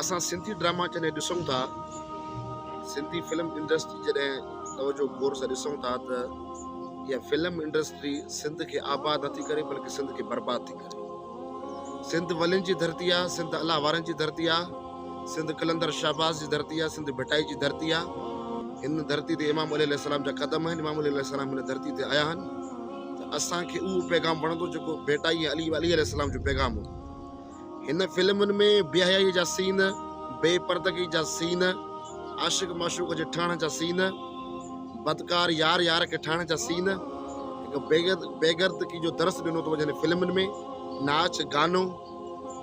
اسان سنڌي ڊراما جڏهن ڏسون ٿا سنڌي فلم انڊسٽري جڏهن توجو غور سان ڏسون ٿا ته اها فلم انڊسٽري سنڌ کي آباد نٿي ڪري بلڪه سنڌ کي برباد ٿي ڪري سنڌ ولين جي ڌرتي آ سنڌ الله وارن جي ڌرتي آ سنڌ قلندر شهباز جي ڌرتي آ سنڌ ڀٽائي جي ڌرتي آ هن ڌرتي تي امام علي السلام جا قدم آهن امام علي السلام هن ڌرتي تي آيا آهن ته اسان کي اهو پيغام وڻندو جيڪو ڀٽائي علي علي السلام جو پيغام هو هن فلمن ۾ بيحيائيء جا سين، بي پردگي جا سين، عاشق معشوق جي ٺهڻ جا سين، بدڪار يار يار کي ٺاهڻ جا سين، هڪ بيغردڪي جو درس ڏنو ٿو وڃي هن فلمن ۾ ناچ گانو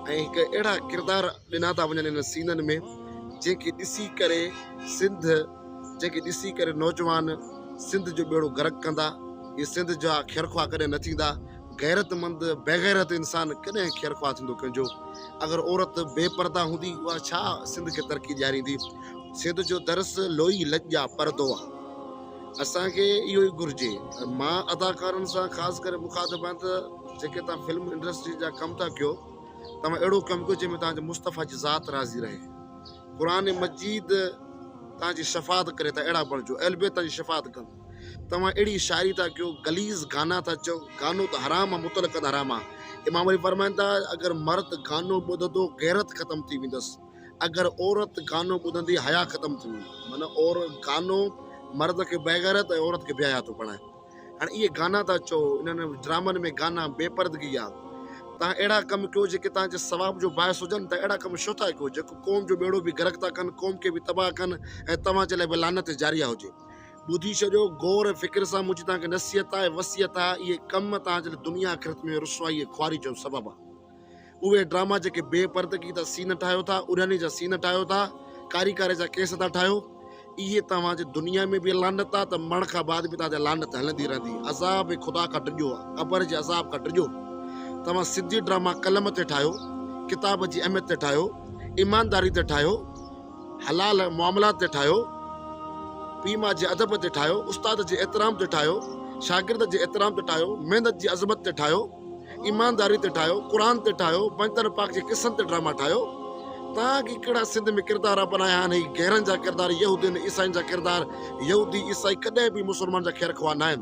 ۽ هڪ اهڙا ڪردار ڏنا ٿا وڃن هن سينن ۾ جنهن کي ڏسي ڪري سنڌ جنهن کي ڏسي ڪري نوجوان سنڌ جو ٻيڙو غرق ڪندا هي سنڌ جا خيرخواهه ڪڏهن نه ٿيندا غيرت مند بيغيرت انسان ڪڏهن خيرخواهه ٿيندو ڪنهن جو. اگر عورت بي پرده هوندي اها ڇا سنڌ کي ترقي ڏياريندي. سنڌ جو درس لوئي لڄ جا پردو آ. اسان کي اهو ئي گهرجي. مان اداڪارن سان خاص ڪري مخاطب آهيان ته جيڪي توهان فلم انڊسٽري جا ڪم ٿا ڪيو توهان اهڙو ڪم ڪيو جنهن ۾ توهان جي مصطفيٰ جي ذات راضي رهي. قرآن مجيد توهان جي شفاعت ڪري ته اهڙا بڻجو اهلبيت توهان جي شفاعت ڪن. توهان اهڙي شاعري ٿا ڪيو غليظ گانا ٿا چئو گانو ته حرام آ مطلقاً حرام آ امام علي فرمائن ٿا اگر مرد گانو ٻڌندو غيرت ختم ٿي ويندس اگر عورت گانو ٻڌندي حيا ختم ٿي ويندي معنيٰ اور گانو مرد کي بيغيرت ۽ عورت کي بي حيا ٿو بڻائي هاڻي اهي گانا ٿا چئو انهن ڊرامن ۾ گانا بي پردگي آ توهان اهڙا ڪم ڪيو جيڪي توهان جي ثواب جو باعث هجن ته اهڙا ڪم ڇو ٿا ڪيو جيڪو قوم جو ٻيڙو به غرق ٿا ڪن قوم کي به تباهه ڪن ۽ توهان جي لاء به لعنت جاريه هجي ٻڌي ڇڏيو، غور ۽ فڪر سان، منهنجي توهان کي نصيحت آهي، وصيت آهي، اهي ڪم توهان جي لاء دنيا آخرت ۾ رسوائي ۽ خواري جو سبب آهن. اهي ڊراما جيڪي بي پردگي تان سين ٺاهيو ٿا، اڙهڻي جا سين ٺاهيو ٿا، ڪاري ڪاري جا ڪيس ٿا ٺاهيو، اهي توهان جي دنيا ۾ به لعنت آهي ته مرڻ کان بعد به توهان تي لعنت هلندي رهندي. عذاب خدا کان ڊڄو، قبر جي عذاب کان ڊڄو. توهان سڌي ڊراما قلم تي ٺاهيو، ڪتاب جي اهميت تي ٺاهيو، ايمانداري تي ٺاهيو. حلال معاملات تي ٺاهيو، پيء ماء جي ادب تي ٺاهيو، استاد جي احترام تي ٺاهيو، شاگرد جي احترام تي ٺاهيو، محنت جي عظمت تي ٺاهيو، ايمانداري تي ٺاهيو، قرآن تي ٺاهيو، بنجتن پاڪ جي قصن تي ڊراما ٺاهيو. تان اڳي ڪهڙا سنڌ ۾ ڪردار اپنايا آهن هي غيرن جا ڪردار يهودين عيسائين جا ڪردار يهودي عيسائي ڪڏهن به مسلمان جا خير خواهه ناهن.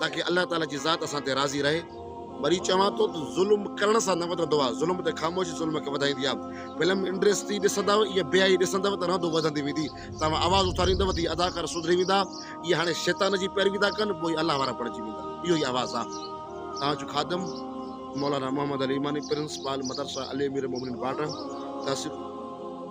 تاڪه الله تعاليٰ جي ذات اسان تي راضي رهي. وري چوان ٿو ته ظلم ڪرڻ سان نه وڌندو آهي ظلم ته خاموشي ظلم کي وڌائيندي آهي فلم انڊسٽري ڏسندؤ اها بياهي ڏسندؤ ته رهندو وڌندي ويندي توهان آواز اٿاريندؤ ته هي اداڪار سڌري ويندا اهي هاڻي شيطان جي پيروي ٿا ڪن پوء الله وارا بڻجي ويندا اهو ئي آواز آهي توهان جو خادم مولانا محمد علي اماني پرنسپال مدرسه علي امير المومنين باڊر تحصيل